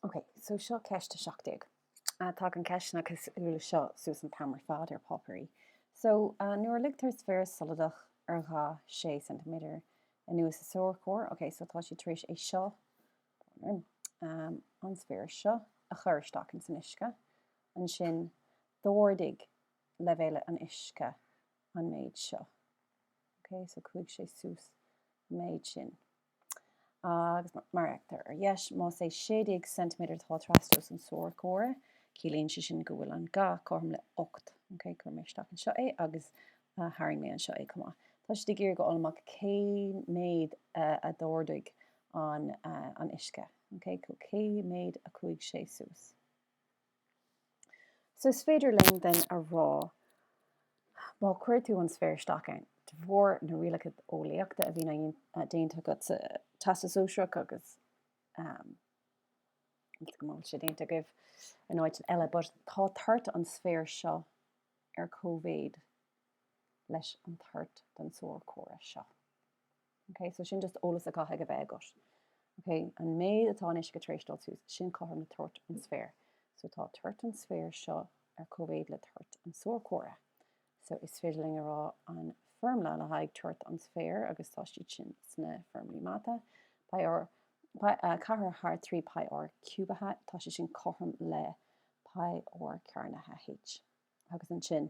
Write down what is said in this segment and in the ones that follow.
Ok, so seo ceist 17. Tagann ceisteanna cosúil seo suas an t-am ar fad ar páipéirí. So, nuair a ligtear sféar soladach dar ga 6 ceintiméadar anuas sa sorcóir, ok, so tá siad tar éis é seo, an sféar seo a chur isteach ins an uisce. Ansin, d'ardaigh leibhéal an uisce an méid seo. Ok, so chuaigh sé suas an méid sin. agus mar a fheictear ar dheis, más é 16 ceintiméadar atá trastomhas an tsorcóra, ciallaíonn sé sin go bhfuil an ga cothrom le 8. Ok, chuir mé isteach anseo é agus tharraing mé anseo é chomh maith. Tá siad ag iarraidh a fháil amach cé méad a d'ardaigh an uisce, cé méad a chuaigh sé suas. So is féidir linn then a rá má chuir tú an sféar isteach ann, de bharr na rialacha eolaíochta a bhí déanta agat sa Teastas Sóisearach agus go mbeadh sé déanta agaibh in áit eile, but tá toirt an sféir seo ar comhéid leis an toirt den sorcóir seo. Okay, so sin just eolas a chaithfidh a bheith agat. Okay, an méid atá an uisce tar éis dul suas, sin cothrom le toirt an sféir. So tá toirt an sféir seo ar comhéid le toirt an sorcóra. So is féidir linn a rá an foirmle le haghaidh toirt an sféir agus tá siad sin sna foirmlí mata. Pi r, pi, uh, ceathair thar trí pi r ciúbaithe, tá sé sin cothrom le pi r cearnaithe h. Agus ansin,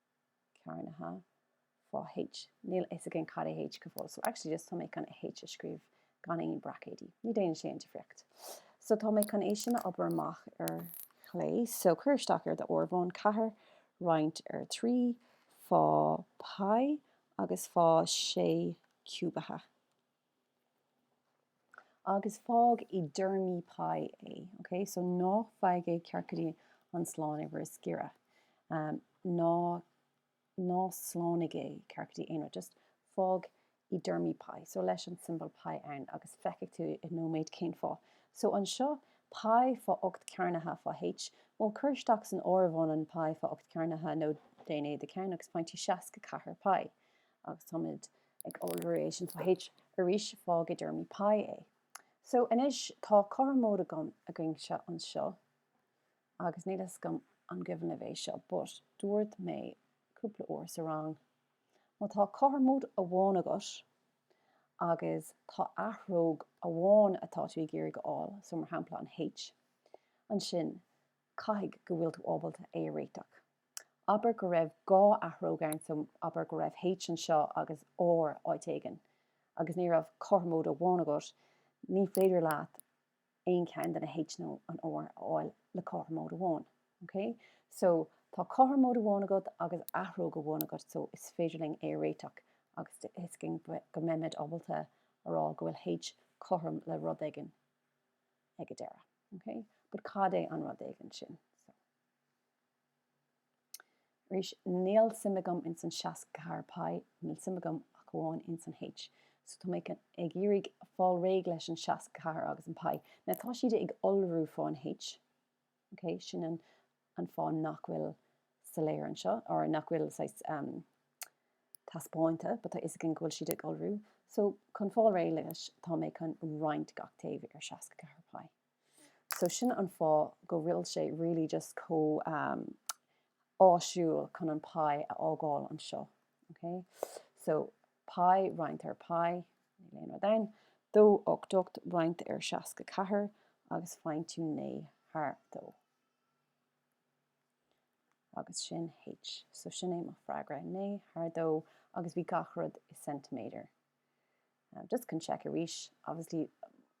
cearnaithe fá H. Níl a fhios againn cad é H go fóill. So actually just tá mé chun H a scríobh gan aon braicéidí. Ní déanann sé aon difríocht. So tá mé chun é sin a obair amach ar chlé. So cuir isteach ar do áireamhán ceathair roinnt ar trí fá pi agus fá sé ciúbaithe. Agus fág i dtéarmaí pai é, ok, so ná faigh é ceart go dtí an slánuimhir is giorra. Ná, ná slánaigh é ceart go dtí aon rud, just fág i dtéarmaí pai, so leis an tsiombail pai ann agus feicfidh tú i nóiméad cén fáth. So anseo, pai fá ocht cearnaithe fá H, bhuel cuir isteach san áireamhán an pai fá ocht cearnaithe nó déan é i do cheann agus faigheann tú seasca ceathair pai. Agus táimid ag iolrú leis an fá H arís fág i dtéarmaí pai é. So anois tá cothromóid againne anseo agus níl a fhios agam an gcuimhin libh é seo but dúirt mé cúpla uair sa rang má tá cothromóid amháin agat agus tá athróg amháin atá tú ag iarraidh a fháil, so mar shampla an H, ansin caithfidh go bhfuil tú ábalta é a réiteach. Abair go raibh dhá athróg ann, so, abair go raibh H anseo agus R áit éigin, agus ní raibh ach cothromóid amháin agat, ní féidir leat aon cheann de na H nó an R a fháil le cothromóid amháin. OK? So, tá cothromóid amháin agat agus athróg amháin agat, so is féidir linn é a réiteach agus is cinnte go mbeimid ábalta a rá go bhfuil H cothrom le rud éigin ag an deireadh. OK? But cad é an rud éigin sin? So. Arís, níl suim agam ins an seasca ceathair pie, níl suim agam ach amháin ins an H. So tá mé ag iarraidh fáil réidh leis an seasca ceathair agus an pie. Now tá siad ag iolrú fá an H, ok, sin an fáth nach bhfuil sé soiléir anseo, or nach bhfuil sé taispeánta, but tá a fhios againn go bhfuil siad ag iolrú. So chun fáil réidh leis tá mé chun roinnt gach taobh ar seasca ceathair pie. So sin an fáth go bhfuil sé really just chomh um, áisiúil chun an pie a fhágáil anseo. Okay? So pie, roinnt ar pie, níl aon rud ann, 2 8 8 roinnt ar 64 agus faigheann tú 9 thar 2. Agus sin h. So sin é mo fhreagra, 9 thar 2 agus bhí gach rud i ceintiméadar. Just chun check arís. Obviously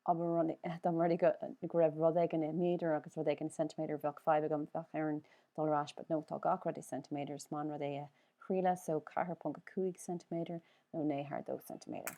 dá dtarlódh go raibh rud éigin i méadar agus rud éigin i ceintiméadar bheadh fadhb agam, bheadh orm dul ar ais but no tá gach rud i ceintiméadar is maith an rud é a thriail so 4.5 ceintiméadar nó 9 thar 2 ceintiméadar.